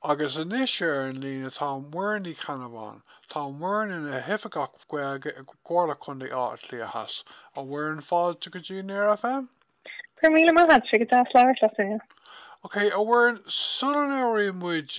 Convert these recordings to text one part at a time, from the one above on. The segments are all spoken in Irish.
Agus anois ar an líne tá Muireann Ní Cheannabháin. tá Muireann ina hOifigeach Gaeilge i gComhairle Contae Átha Cliath Theas. A Mhuireann fáilte go dtí Near FM. Go raibh míle maith agat, tá sé go deas labhairt leat inniu. Ok, a Mhuireann, sula labhraíonn muid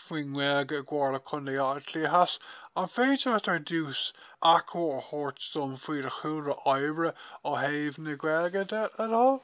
faoin nGaeilge i gComhairle Contae Átha Cliath Theas, an féidir leat ar dtús achoimre a thabhairt dom faoi do chúlra oibre ó thaobh na Gaeilge de le do thoil?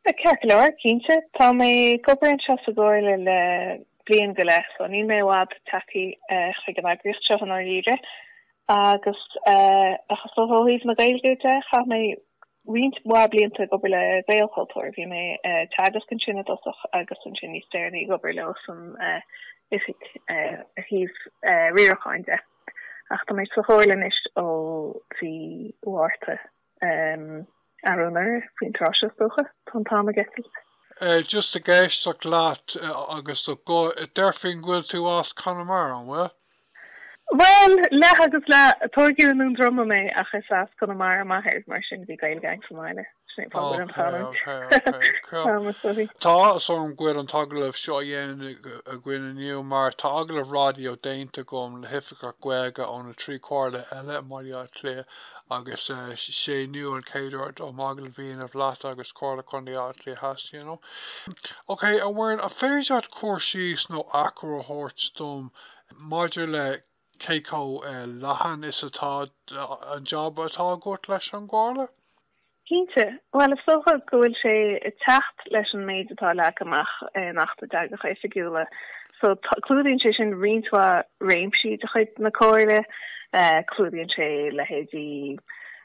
Ceart go leor, cinnte. Tá mé ag obair anseo sa gComhairle le bliain go leith so níl mé i bhfad tagtha chuig an eagraíocht seo i ndáiríre agus ach is dócha ó thaobh na Gaeilge de chaith mé roinnt mhaith blianta ag obair le Gaelchultúr. Bhí mé ag teagasc ansin i dtosach agus ansin níos deireanaí ag obair leo san oifig ar thaobh riaracháin de ach tá mé sa Chomhairle anois ó mhí Mhárta. Anuraidh faoin tráth seo, is dócha, tá an t-am ag eitilt. Just ag éisteacht leat agus do ghuth, deirfinn go bhfuil tú as Conamara, an bhfuil? Bhuel, leath agus leath. Tógadh i nDún Droma mé ach is as Conamara m'athair, mar sin bhí Gaeilge agam sa mbaile. Sin é fáth an chanúint. Tá áthas orm go bhfuil an t-agallamh seo á dhéanamh againn inniu mar tá agallamh raidió déanta agam le hoifigeach Gaeilge ó na trí chomhairle eile i mBaile Átha Cliath. agus is é inniu an chéad uair dom a bheith i dteagmháil leat agus Comhairle Contae Átha Cliath Theas you know. Ok a Mhuireann an féidir leat cur síos nó achoimre a thabhairt dom maidir le cé chomh leathan is atá an jab atá agat leis an gcomhairle? Cinnte. Bhuel, is dócha go bhfuil sé ag teacht leis an méid atá leagtha amach in Acht na dTeangacha Oifigiúla. So, clúdaíonn sé sin roinnt mhaith réimsí de chuid na Comhairle. Clúdaíonn sé leithéidí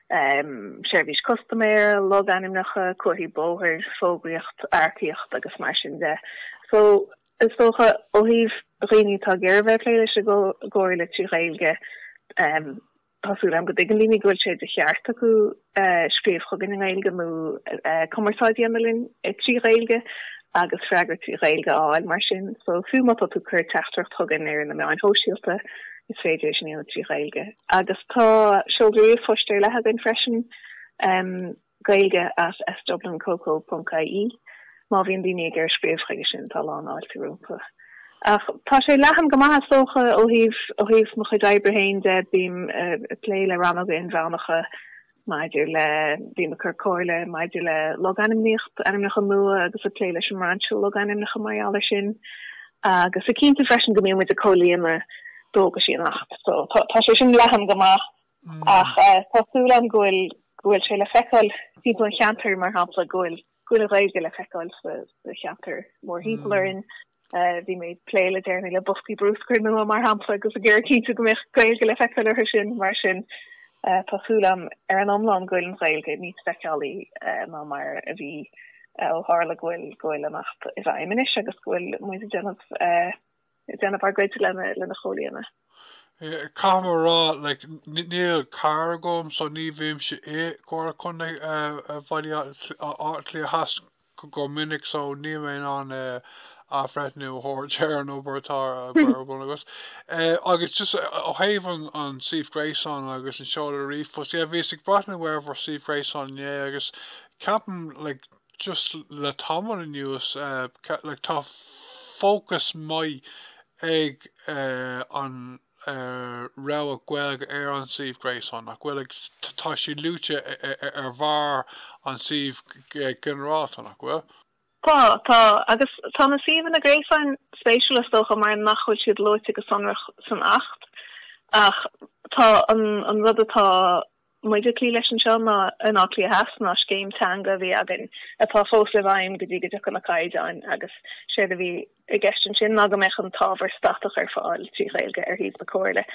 seirbhís custaiméara, logainmneacha, comharthaí bóthair, fógraíocht, earcaíocht agus mar sin de. So, is dócha, ó thaobh dhaoine atá ag iarraidh bheith ag plé leis an gComhairle trí Ghaeilge, Tá súil agam go dtuigeann daoine go bhfuil sé de cheart acu scríobh chugainn i nGaeilge nó cumarsáid a dhéanamh linn trí Ghaeilge agus freagra trí Ghaeilge a fháil mar sin. So fiú má tá tú ag cur teachtaireacht chugainn ar na meáin shóisialta is féidir é sin a dhéanamh trí Ghaeilge. Agus tá seoladh ríomhphoist ar leith againn freisin. Gaeilge at sdublincoco.ie Má bhíonn daoine ag iarraidh scríobh chuige sin, tá a lán fáilte rompu. Ach tá sé leathan go maith is dócha ó thaobh ó thaobh mo chuid oibre féin de, bím ag plé le rannóga inmheánacha maidir le, bím ag cur comhairle maidir le logainmníocht, ainmneacha nua agus ag plé leis an mbrainse logainmneacha mar gheall air sin agus ag cinntiú freisin go mbíonn muid ag comhlíonadh dualgaisí an Acht. So tá sé sin leathan go maith. Ach tá súil agam go bhfuil go bhfuil sé le feiceáil timpeall an cheantair, mar shampla, go bhfuil go bhfuil an Ghaeilge le feiceáil sa sa cheantar mórthimpeall orainn. Bhí mé ag plé le déanaí le boscaí bruscair nua, mar shampla, agus ag iarraidh cinntiú go mbeadh Gaeilge le feiceáil orthu sin. Mar sin, tá súil agam ar an iomlán go bhfuil an Ghaeilge níos feiceálaí ná mar a bhí ó tharla go bhfuil go bhfuil an tAcht i bhfeidhm anois agus go bhfuil muid ag déanamh ag déanamh ár gcuid lena chomhlíonadh. Caithfidh mé a rá, like, níl carr agam so ní bhímse i gComhairle Contae Bhaile Átha Cliath Theas go minic so níl mé in ann athbhreithniú a thabhairt ar an obair atá agaibh. Agus just ó thaobh an suíomh gréasáin agus an seoladh ríomhphost, yeah, bhíos ag breathnú ar bhur suíomh gréasáin inné agus ceapaim, like, just le tamall anuas like tá fócas maith ag an rogha Gaeilge ar an suíomh gréasáin nach bhfuil tá sí luaite ar bharr an suímh ginearálta nach bhfuil? Tá, tá. Agus tá na suíomhanna gréasáin spéisiúla is dócha mar nach bhfuil siad luaite go sonrach san Acht ach tá an rud atá muid ag cloí leis anseo ná in Áth Cliath Theas ná scéim teanga a bhí againn atá fós i bhfeidhm go dtí go dtiocfaidh na caighdeáin agus séard a bhí i gceist ansin ná go mbeadh an t-ábhar statach ar fáil trí Ghaeilge ar shuíomh na Comhairle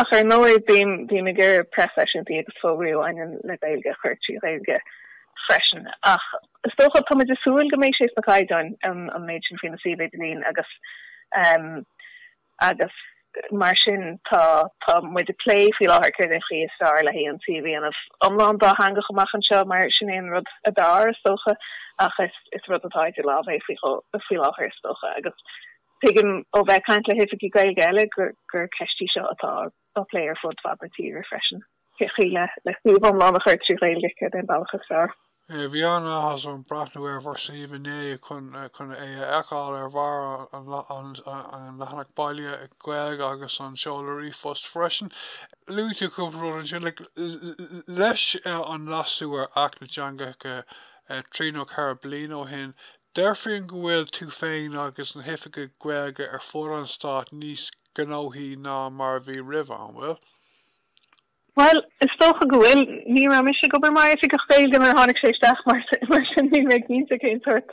ach ar ndóigh bím bím ag iarraidh preaseisiúintí agus fógraí a bhaineann le Gaeilge a chur trí Ghaeilge freisin ach is dócha tá muid ag súil go mbeidh sé sna caighdeáin an méid sin faoi na suímh idirlín agus agus mar sin tá tá muid ag plé faoi láthair cén chaoi is fearr le hí an suíomh a dhéanamh iomlán dátheangach amach anseo mar sin é an rud ab fhearr is dócha ach is is rud atá idir lámh é faoi faoi láthair is dócha agus tuigim ó bheith ag caint le hoifigigh Gaeilge eile gur gur ceist í seo atá á plé ar fud fad na tíre freisin. le hí suíomh iomlán a chur trí Ghaeilge cén bealach is fearr. Bhí an-áthas orm breathnú ar bhur suíomh inné chun chun é a fheiceáil ar bharr an leathanach baile Gaeilge agus an seoladh ríomhphost freisin. Luaigh tú cúpla rud ansin leis an leasú ar Acht na dTeangacha trí nó ceithre bliana ó shin. Déarfainn go bhfuil tú féin agus na hoifigigh Gaeilge ar fud an stáit níos gnóthaí ná mar a bhí roimhe, an bhfuil? Bhuel, is dócha go bhfuil. Ní raibh mise ag obair mar oifigeach Gaeilge nuair a tháinig sé isteach, mar sin ní bheinn cinnte cén sórt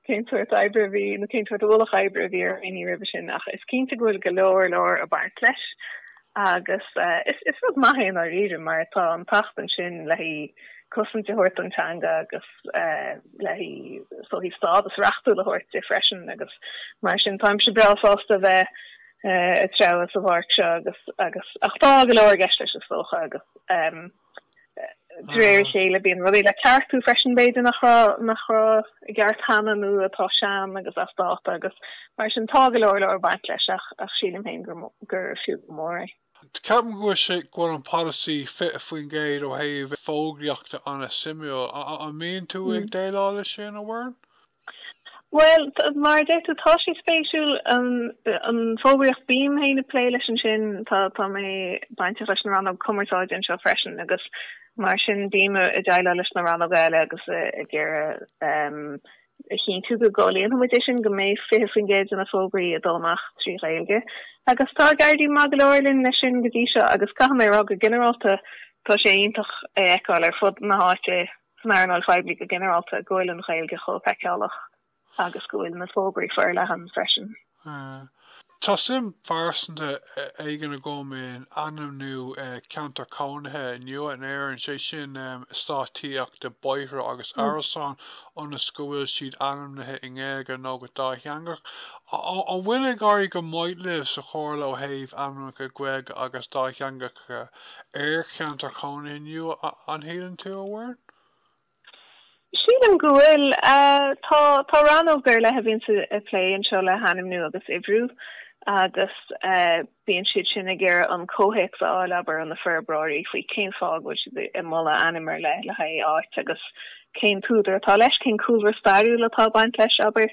cén sórt oibre a bhí nó cén sórt ualach oibre a bhí ar dhaoine roimhe sin ach is cinnte go bhfuil go leor leor ag baint leis agus is is rud maith é i ndáiríre mar tá an tAcht ann sin le hí cosaint a thabhairt don teanga agus le hí sórt stádas reachtúil a thabhairt di freisin agus mar sin táimse breá sásta a bheith treabhadh sa bpáirc seo agus agus ach tá go leor i gceist leis is dócha agus de réir a chéile bíonn rudaí le ceartú freisin b'fhéidir nach raibh nach raibh i gceart cheana nó atá sean agus as dáta agus mar sin tá go leor leor ag baint leis ach ach sílim féin gur gur fiú go mór é. Ceapaim go bhfuil sé go bhfuil an polasaí 20% ó thaobh fógraíochta an-suimiúil. An mbíonn tú ag déileáil leis sin, a Mhuireann? Bhuel, mar a deir tú, tá sé spéisiúil, an fógraíocht. Bím féin ag plé leis ansin, tá mé bainteach leis na rannóg cumarsáide anseo freisin agus mar sin bím ag déileáil leis na rannóga eile agus ag iarraidh a chinntiú go gcomhlíonfaidh muid é sin, go mbeidh 20% de na fógraí ag dul amach trí Ghaeilge. Agus tá ag éirí maith go leor linn leis sin go dtí seo agus caithfidh mé a rá go ginearálta tá sé iontach a fheiceáil ar fud na háite san earnáil phoiblí go ginearálta, go bhfuil an Ghaeilge chomh feiceálach agus go bhfuil na fógraí forleathan freisin. Tá suim phearsanta éigin agam in ainmniú ceantar cónaithe nua in Éirinn, sé sin eastáit tithíochta, bóithre agus árasáin, ionas go bhfuil siad ainmnithe i nGaeilge nó go dátheangach. An bhfuil ag éirí go maith libh sa Chomhairle ó thaobh ainmneacha Gaeilge agus dátheangach? ar cheantair chónaithe nua an síleann tú, a Mhuireann? Sílim go bhfuil. Tá rannóg ar leith a bhíonn ag plé anseo le hainmniú agus uimhriú agus bíonn siad sin ag iarraidh an comhthéacs a fháil, abair, ó na forbróirí, faoi cén fáth a bhfuil siad ag moladh ainm ar leith le haghaidh áit agus cén t-údar atá leis, cén cúlra stairiúil atá ag baint leis, abair,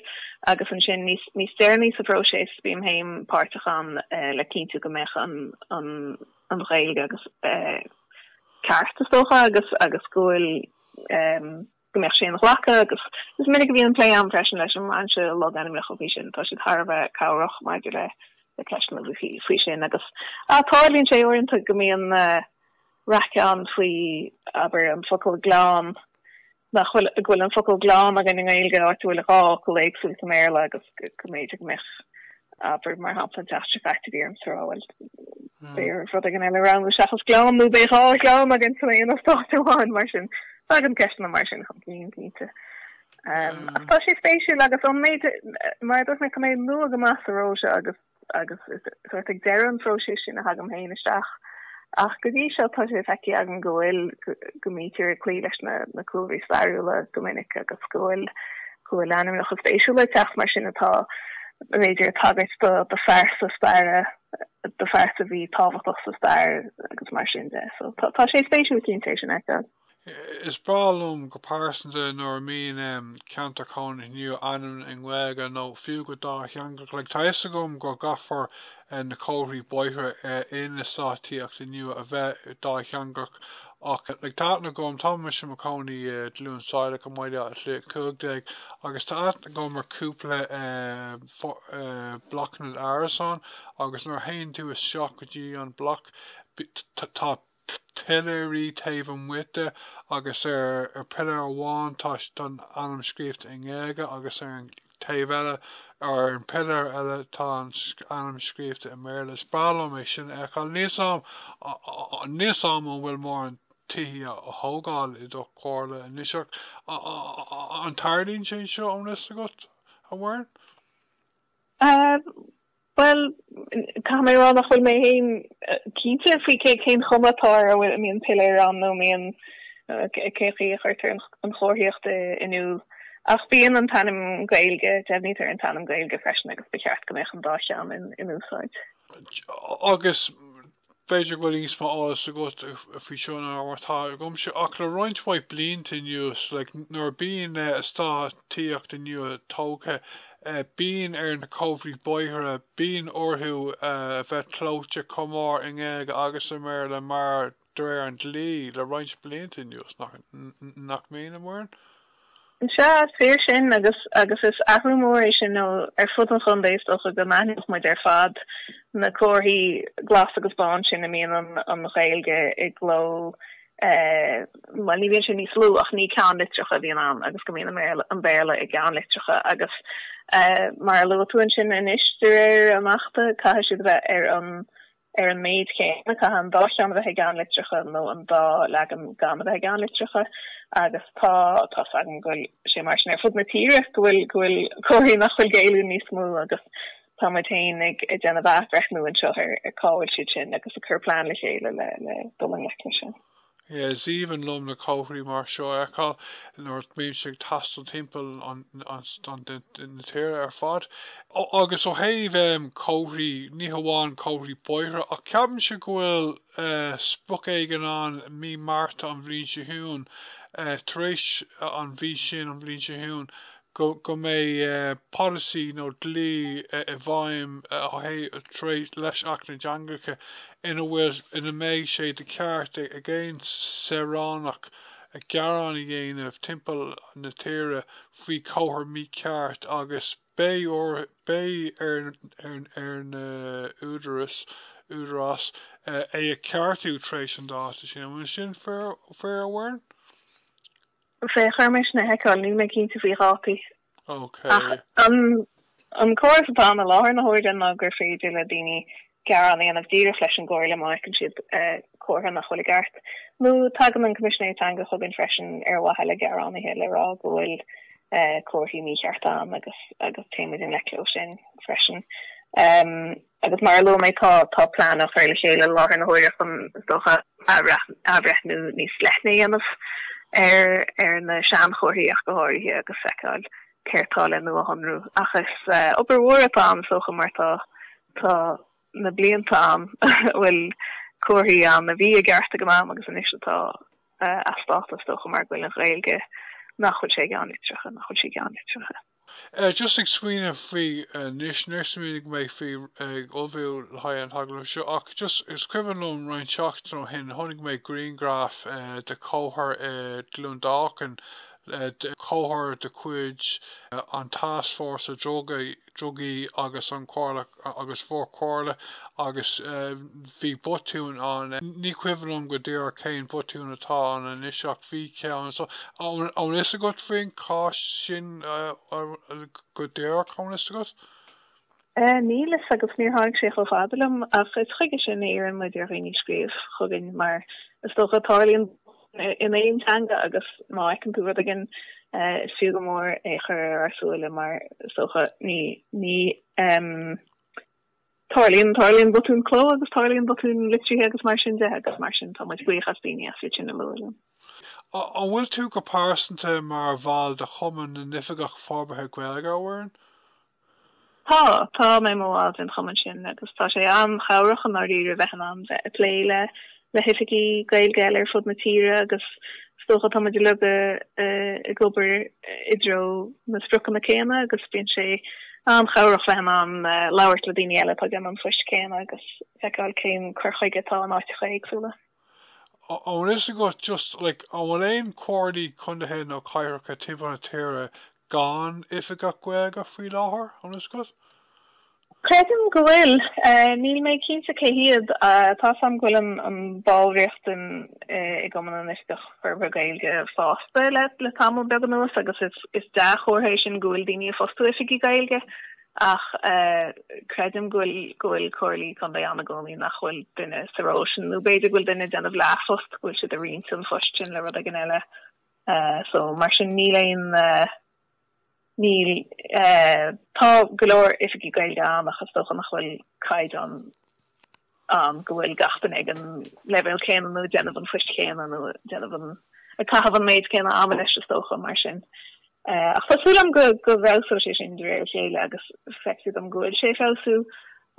agus ansin níos deireanaí sa phróiseas bím féin páirteach ann le cinntiú go mbeadh an Ghaeilge ceart, is dócha, agus go bhfuil, go mbeadh sé inghlactha agus is minic a bhíonn plé ann freisin leis an mbrainse logainmneacha faoi sin. Tá siad thar a bheith cabhrach maidir le ceisteanna faoi sin agus tarlaíonn sé uaireanta go mbíonn raic ann faoi abair an focal gleann, nach bhfuil, go bhfuil an focal gleann againn i nGaeilge áit a bhfuil dhá fhocal éagsúil sa mBéarla agus go mb'fhéidir go mbeadh abair mar shampla an tseachtain seo caite bhí ormsa a rá, bhuel b'fhéarr rud éigin eile a roghnú seachas gleann nó beidh dhá ghleann againn san aon eastát amháin mar sin. Tagann ceisteanna mar sin chun cinn cinnte. Ach tá sé spéisiúil agus ón méid, mar a dúirt mé, tá mé nua go maith sa ról seo agus, agus is sórt ag deireadh an phróisis sin a thagaim féin isteach ach go dtí seo tá sé feicthe agam go bhfuil, go mbítear ag cloí leis na cúlraí stairiúla go minic agus go bhfuil, go bhfuil ainmneacha spéisiúla ag teacht mar sin atá, b'fhéidir, ag tagairt do, do phearsa staire, do phearsa a bhí tábhachtach sa stair agus mar sin de. So tá, tá sé spéisiúil cinnte é sin ar fad. Is breá liom go pearsanta nuair a mbíonn na ceantair chónaithe nua ainmnithe i nGaeilge nó fiú go dátheangach. Like tá fhios agam go gcaithfear eh. na comharthaí bóithre eh. i. na heastáit tithíochta nua a bheith dátheangach ach like tá a fhios agam tá mise i mo chónaí i. gCluain Saileach i mBaile Átha Cliath 15 agus tá a fhios agam ar cúpla eh. eh. blocanna árasán agus nuair a théann tú isteach go dtí an block tá. piléir taobh amuigh de agus ar an piléar amháin tá an ainm scríobhta i nGaeilge agus ar an taobh eile, ar an piléar eile, tá an ainm scríobhta i mBéarla. Is breá liom é sin a fheiceáil. Níl a fhios agam an bhfuil mórán tithe á thógáil i do chomhairle anois ach an dtarlaíonn sé seo an bhfuil a fhios agat, a Mhuireann? Bhuel, Bhuel, caithfidh mé a rá nach bhfuil mé fhéin cinnte faoi cé cén chuma atá air, an mbíonn piléar ann nó mura mbíonn, cén chaoi a chuirtear an chomharthaíocht in iúl. Ach bíonn an t-ainm Gaeilge, deimhnítear an t-ainm Gaeilge freisin agus ba cheart go mbeadh an dá cheann in úsáid. Agus B'fhéidir go bhfuil níos mó eolais agat faoi seo ná mar atá agamsa, ach le roinnt mhaith blianta anuas, like, nuair a bíonn eastát tithíochta nua tógtha, eh, bíonn ar na comharthaí bóithre, bíonn orthu a bheith clóite chomh mór i nGaeilge agus i mBéarla mar, de réir an dlí, le roinnt blianta anuas, nach, nach mbíonn, a Mhuireann? Is ea, is fíor sin agus agus is athrú mór é sin. Ní hamháin ar fud an chontae is dócha go n-aithneodh muid ar fad na comharthaí glasa agus bána sin a mbíonn an Ghaeilge i gcló, bhuel ní bhíonn sé níos lú ach ní ceannlitreacha a bhíonn ann agus go mbíonn an Béarla i gceannlitreacha agus mar a luaigh tú ansin anois de réir an achta caithfidh siad a bheith ar an Ar an méid céanna, caithfidh an dá cheann a bheith i gceannlitreacha nó an dá leagan gan a bheith i gceannlitreacha agus tá tá a fhios againn go bhfuil sé mar sin ar fud na tíre go bhfuil go bhfuil comharthaí nach bhfuil géilliúil níos mó agus tá muid féin ag ag déanamh athbhreithniú anseo ar ar cá bhfuil siad sin agus ag cur plean le chéile le le dul i ngleic leis sin. Yeah, is aoibhinn liom na comharthaí mar seo a fheiceáil nuair a mbímse ag taisteal timpeall na tíre ar fad. Agus ó thaobh comharthaí, ní hamháin comharthaí bóithre, ach ceapaimse go bhfuil sprioc éigin ann mí Márta an bhliain seo chugainn, tar éis an mhí sin an bhliain seo chugainn, go mbeidh polasaí nó dlí i bhfeidhm de réir leis Acht na dTeangacha ina bhfuil, ina mbeidh sé de cheart ag aon saoránach gearán a dhéanamh timpeall na tíre faoi chomhartha mícheart agus beidh ar na húdaráis, údarás é a cheartú tar éis an dáta sin. An bhfuil sin fíor, a Mhuireann? Féach, caithfidh mé é sin a sheiceáil, níl mé cinnte faoi dhátaí. Ok. Ach an córas atá ann i láthair na huaire ná gur féidir le daoine gearán a dhéanamh díreach leis an gComhairle má fheiceann siad comhartha nach bhfuil i gceart. Nó tagann an Coimisinéir Teanga chugainn freisin ar mhaithe le gearánaithe le rá go bhfuil comharthaí míchearta ann agus téimid i ngleic leo sin freisin. Agus mar a luaigh mé, tá plean á chur le chéile i láthair na huaire chun, is dócha, athbhreithniú níos leithne a dhéanamh ar na seanchomharthaí ach go háirithe agus feiceáil céard tá le nuashonrú. Ach is obair mhór atá ann is dócha mar tá na blianta ann a bhfuil comharthaí ann a bhí i gceart ag an am agus anois atá as dáta is dócha mar go bhfuil an Ghaeilge nach bhfuil sé i gceannlitreacha nach bhfuil sé i gceannlitreacha. Eh, just ag smaoineamh faoi anois, níor smaoinigh mé faoi ag ullmhú le haghaidh an t-agallamh seo ach just is cuimhin liom roinnt seachtain ó shin chonaic mé grianghraf eh de chomhartha i gCluain Dolcáin eh de chomhartha de chuid an Tascfhórsa Dru Drugaí agus an Chomhairle agus bhur gcomhairle agus bhí botún ann. Ní cuimhin liom go díreach cén botún a bhí ann anois ach bhí ceann. So an bhfuil fhios agat faoin chás sin go díreach an bhfuil fhios agat? Níl fhios agam, níor tháinig sé chomh fada liom ach is chuige sin a iarrann muid ar dhaoine scríobh chugainn mar is dócha tarlaíonn in aon teanga agus má fheiceann tú rud éigin is fiú go mór é chur ar ár súile mar is dócha ní Em. Tarlaíonn, tarlaíonn botúin cló agus tarlaíonn botúin litrithe agus mar sin de agus mar sin tá muid buíoch as daoine as iad sin a lua linn. An bhfuil tú go pearsanta mar bhall de Chumann na nOifigeach Forbartha Gaeilge a Mhuireann? Tá, tá mé mar bhall den chumann sin agus tá sé an-chabhrach i ndáiríre bheith in ann bheith ag plé le le hoifigigh Gaeilge eile ar fud na tíre agus is dócha tá muid uilig ag obair i dtreo na spriocanna céanna agus bíonn sé an-chabhrach bheith in ann labhairt le daoine eile atá ag déanamh an phoist chéanna agus feiceáil cén cur chuige atá in áiteacha éagsúla. An bhfuil fhios agat just, like, an bhfuil aon comhairlí contaetha nó cathracha timpeall na tíre Gan oifigeach Gaeilge faoi láthair, an bhfuil fhios agat? Creidim go bhfuil. Em níl mé cinnte cé hiad. Tá fhios agam go bhfuil an bhallraíocht i gCumann na nOifigeach Forbartha Gaeilge fásta le tamall beag anuas agus is dea-chomhartha é sin go bhfuil daoine ag fostú Oifigigh Gaeilge ach creidim go bhfuil Comhairlí Contae ann i gcónaí nach bhfuil duine sa ról sin nó b'fhéidir go bhfuil duine ag déanamh leathphost go bhfuil siad ag roinnt an phost sin le rud éigin eile. so mar sin níl aon níl tá go leor oifigigh Gaeilge ann ach is dócha nach bhfuil caighdeán ann go bhfuil gach duine ag an leibhéal céanna nó ag déanamh an phoist chéanna nó ag déanamh an ag caitheamh an méid céanna ama leis is dócha mar sin ach tá súil liom go go bhfeabhsóidh sé sin de réir a chéile agus feictear dom go bhfuil sé ag feabhsú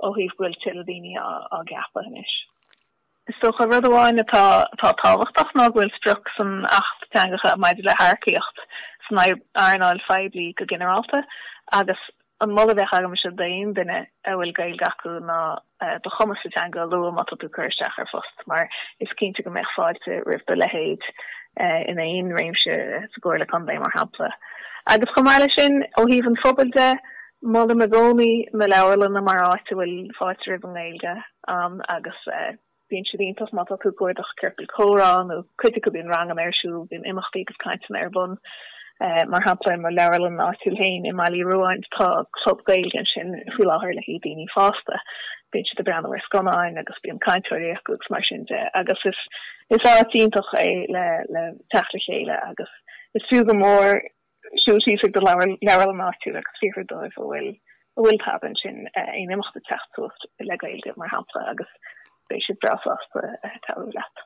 ó thaobh go bhfuil tuilleadh daoine á gceapadh anois. Is dócha, rud amháin atá tábhachtach ná go bhfuil sprioc san Acht Teangacha maidir le hearcaíocht san earnáil phoiblí go ginearálta agus an moladh a bheadh agamsa d'aon duine a bhfuil Gaeilge acu ná do chumas sa teanga a lua má tá tú ag cur isteach ar phost mar is cinnte go mbeadh fáilte roimh do leithéid in aon réimse sa gcomhairle contae mar shampla. Agus chomh maith leis sin ó thaobh an phobail de, Molaim i gcónaí na leabharlanna mar áit a bhfuil fáilte roimh an nGaeilge agus bíonn siad iontach má tá tú ag cuardach ciorcal comhrá nó cuid acu bíonn ranganna ar siúl, bíonn imeachtaí agus cainteanna ar bun. Mar shampla i mo leabharlann áitiúil féin i mBaile Uí Ruáin tá club Gaeilge ansin faoi láthair le haghaidh daoine fásta, bíonn siad ag breathnú ar scannáin agus bíonn cainteoirí acu agus mar sin de agus is áit iontach é le teacht le chéile agus is fiú go mór Siúil síos ag do leabharlann áitiúil agus fiafraí dóibh an bhfuil an bhfuil tada ansin aon imeacht ag teacht suas le Gaeilge, mar shampla, agus beidh siad breá sásta cabhrú leat.